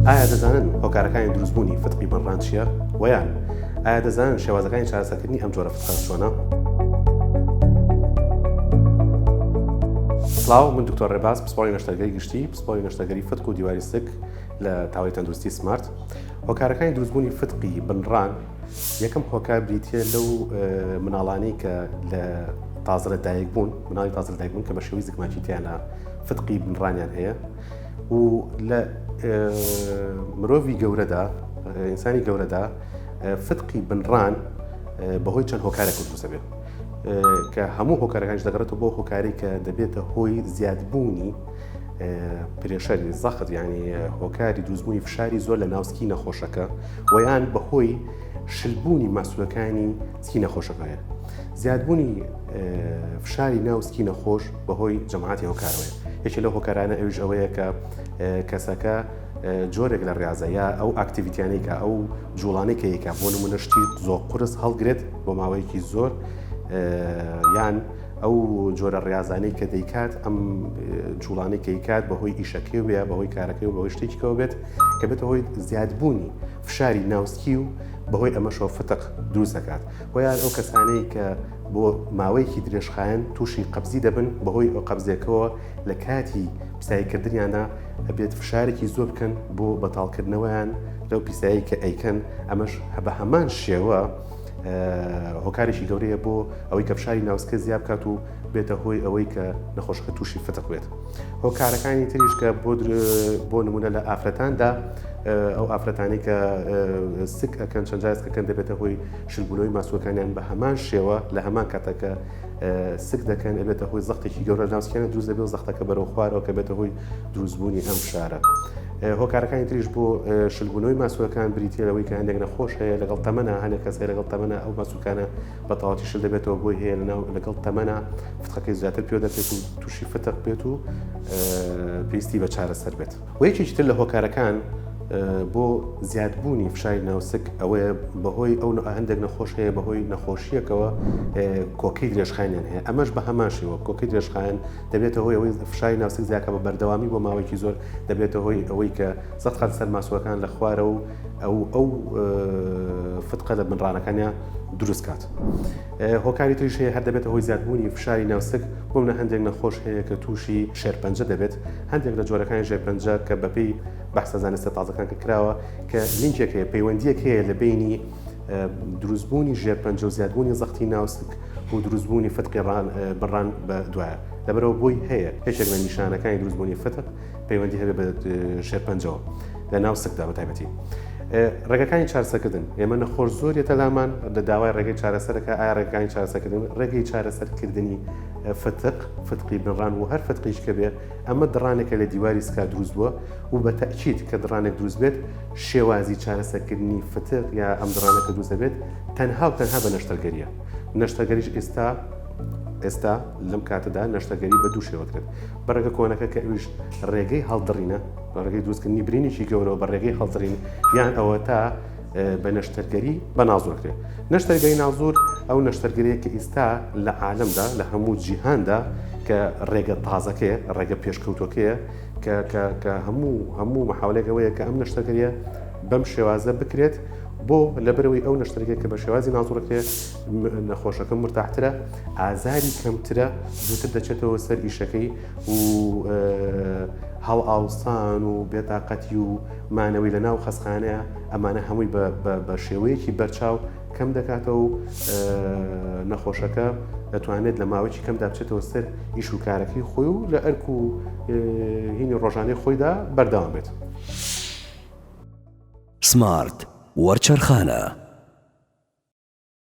ئایا دەزانن هۆکارەکانی دروستبوونی فتقی بەڕان چییە؟ وەیان ئایا دەزانن شێوازەکانی چارەسەکردنی ئەم جۆرە فتقە چۆنە؟ سلااو من دکتۆر ڕێباز پسپۆری نەشتەرگەری گشتی پسپۆری نەشتەگەری فتق و دیواری سک لە تاوای تەندروستی سمارت هۆکارەکانی دروستبوونی فتقی بنڕان یەکەم هۆکار بریتە لەو مناڵانی کە لە تازرە دایک بوون مناڵی تازر دایک بوون کە بە شێوی زگماکی تیانە فتقی بنڕانیان هەیە و لە مرۆڤی گەورەدا ئینسانی گەورەدا فتقی بنڕان بەهۆی چەند هۆکارێک کوردوسە بێت کە هەموو هۆکارەکانش دەگەڕێتەوە بۆ هۆکاری کە دەبێتە هۆی زیادبوونی پرێشەری زەخت ینی هۆکاری دوزبوونی فشاری زۆر لە ناوسکی نەخۆشەکە ویان بەهۆی شلبوونی ماسوولەکانی سکی نەخۆشە کەوێت زیادبوونی فشاری ناو سکی نەخۆش بەهۆی جەماعاتی هۆکارەوەی یەکێ لە هۆکارانە ئەوش ئەوەیە کە کەسەکە جۆرێک لە ڕاضەیە ئەو ئاکتیویتیانەی کە ئەو جوڵانەی کەیکە بۆ نمونە شتی زۆر قرس هەڵگرێت بۆ ماوەیەکی زۆر یان ئەو جۆرە ڕاضانەی کە دەیکات ئەم جوڵانەی کەیکات بەهۆی ئیشەکەی وە بەهۆی کارەکەی و بەهۆی شتێکەوە بێت کە بێتە هۆی زیادبوونی فشاری ناوسکی و بەهۆی ئەمەشەوە فتق دروست دەکات و یان ئەو کەسانەی کە بۆ ماوەیەکی درێژخایەن تووشی قەبزی دەبن بەهۆی ئەو قەبزێکەوە لە کاتی پیساییکردنیانە ئەبێت فشارێکی زۆر بکەن بۆ بەتاڵکردنەوەیان لەو پیسایی کە ئەیکەن ئەمەش هەبە هەمان شێوە هۆکارێکی گەورەیە بۆ ئەوەی کە فشاری ناوسکە زیاب کات و بێتە هۆی ئەوەی کە نەخۆشەکە تووشی فتق بێت. هۆکارەکانی تریش کە بۆ بۆ نمونە لە ئافرەتاندا ئەو ئافرەتانی کە سک ئەەکەن چەند جاز ئەەکەن دەبێتە هۆی شلبوونەوەی ماسوەکانیان بە هەمان شێوە لە هەمان کاتەکە سک دەکەن ئەبێتە هۆی زەختێکی گەورە ناوسکیانە دروست دەبێت زەختەکە بەرەو خوارەوە کە بێتە هۆی دروستبوونی ئەم شارە. هۆکارەکانی تریش بۆ شلبوونەوەی ماسوەکان بریتیەوەی کە هەندێک نەخۆش هەیە لەگەڵ تەمەە هەنێک کەس هەیە لەگەڵ تەمەە ئەو ماسوکانە بە تەواوەتی شل دەبێتەوە بۆی هەیە لەناو لەگەڵ تەمەنا فتقەکەی زیاتر پێوە دەچێت و تووشی فتق بێت و پێویستی بە چارەسەر بێت و یەکێکی تر لە هۆکارەکان بۆ زیادبوونی فشاری ناوسک ئەوەیە بەهۆی ئەو هەندێک نەخۆش هەیە بەهۆی نەخۆشیەکەوە کۆکەی درێژخانیان هەیە ئەمەش بە هەماشەوە کۆکەی درێژخان دەبێتە هۆی ئەوەی فشاری ناوسک زیاکە بە بەردەوامی بۆ ماوەیەکی زۆر دەبێتە هۆی ئەوەی کە سەخت خات سەر ماسوەکان لە خوارە و ئەو ئەو فتقە لە بنرانەکانیان دروست کات هۆکاری تریش هەیە هەر دەبێتە هۆی زیادبوونی فشاری ناوسک بۆ منە هەندێک نەخۆش هەیە کە تووشی شێرپەنجە دەبێت هەندێک لە جۆرەکانی ژێرپەنجە کە بەپی بەحسە زانستە تازەکان کە کراوە کە لینکێک هەیە پەیوەندیەک هەیە لە بینی دروستبوونی ژێرپەنجە و زیادبوونی زەختی ناوسک و دروستبوونی فتقیڕان بڕان بە دوایە لەبەرەوە بۆی هەیە یەکێک لە نیشانەکانی دروستبوونی فتق پەیوەندی هەبێت بە شێرپەنجەوە لە ناو سکدا بە تایبەتی. ڕێگەکانی چارەسەکردن ئێمە نەخۆش زۆر یەتە لامان لە داوای ڕێگەی چارەسەرەکە ئایا ڕێگەکانی چارەسەکردن ڕێگەی چارەسەرکردنی فتق فتقی بنڕان و هەر فتقیش کە بێ ئەمە دڕانێکە لە دیواری سکا دروست بووە و بە تەکییت کە دڕانێک دروست بێت شێوازی چارەسەرکردنی فتق یا ئەم دڕانەکە دروست دەبێت تەنها و تەنها بە نەشتەرگەریە نەشتەگەریش ئێستا ئێستا لەم کاتەدا نەشتەگەری بە دوو شێوەکرێت بە ڕێگە کۆنەکە کە ئەویش ڕێگەی هەڵدڕینە بە ڕێگەی دروستکردنی برینێکی گەورەوە بە ڕێگەی هەڵدرین یان ئەوە تا بە نەشتەرگەری بە نازۆرکرێت نەشتەرگەی نازور ئەو نەشتەرگەرەیە کە ئیستا لە عالمدا لە هەموو جیهاندا کە ڕێگە تازەکەیە ڕێگە پێشکەوتەکەیە کە هەموو هەموو مححاولێک ئەوەیە کە ئەم نەشتەرگەریە بەم شێوازە بکرێت بۆ لەبەرەوەی ئەو نەشتەرگێک کە بە شێوازی نازڕکرێت نەخۆشەکە مرتاحترە ئازاری کەمترە زووتر دەچێتەوە سەر ئیشەکەی و هەڵ ئاوسان و بێتاقەتی و مانەوەی لە ناو خەسخانەیە ئەمانە هەمووی بە شێوەیەکی بەرچاو کەم دەکاتەوە و نەخۆشەکە دەتوانێت لە ماوەی کەم دابچێتەوە سەر ئیش و کارەکەی خۆی و لە ئەرک و هینی ڕۆژانەی خۆیدا بەردەوام بێت. سمارت وەرچەرخانە.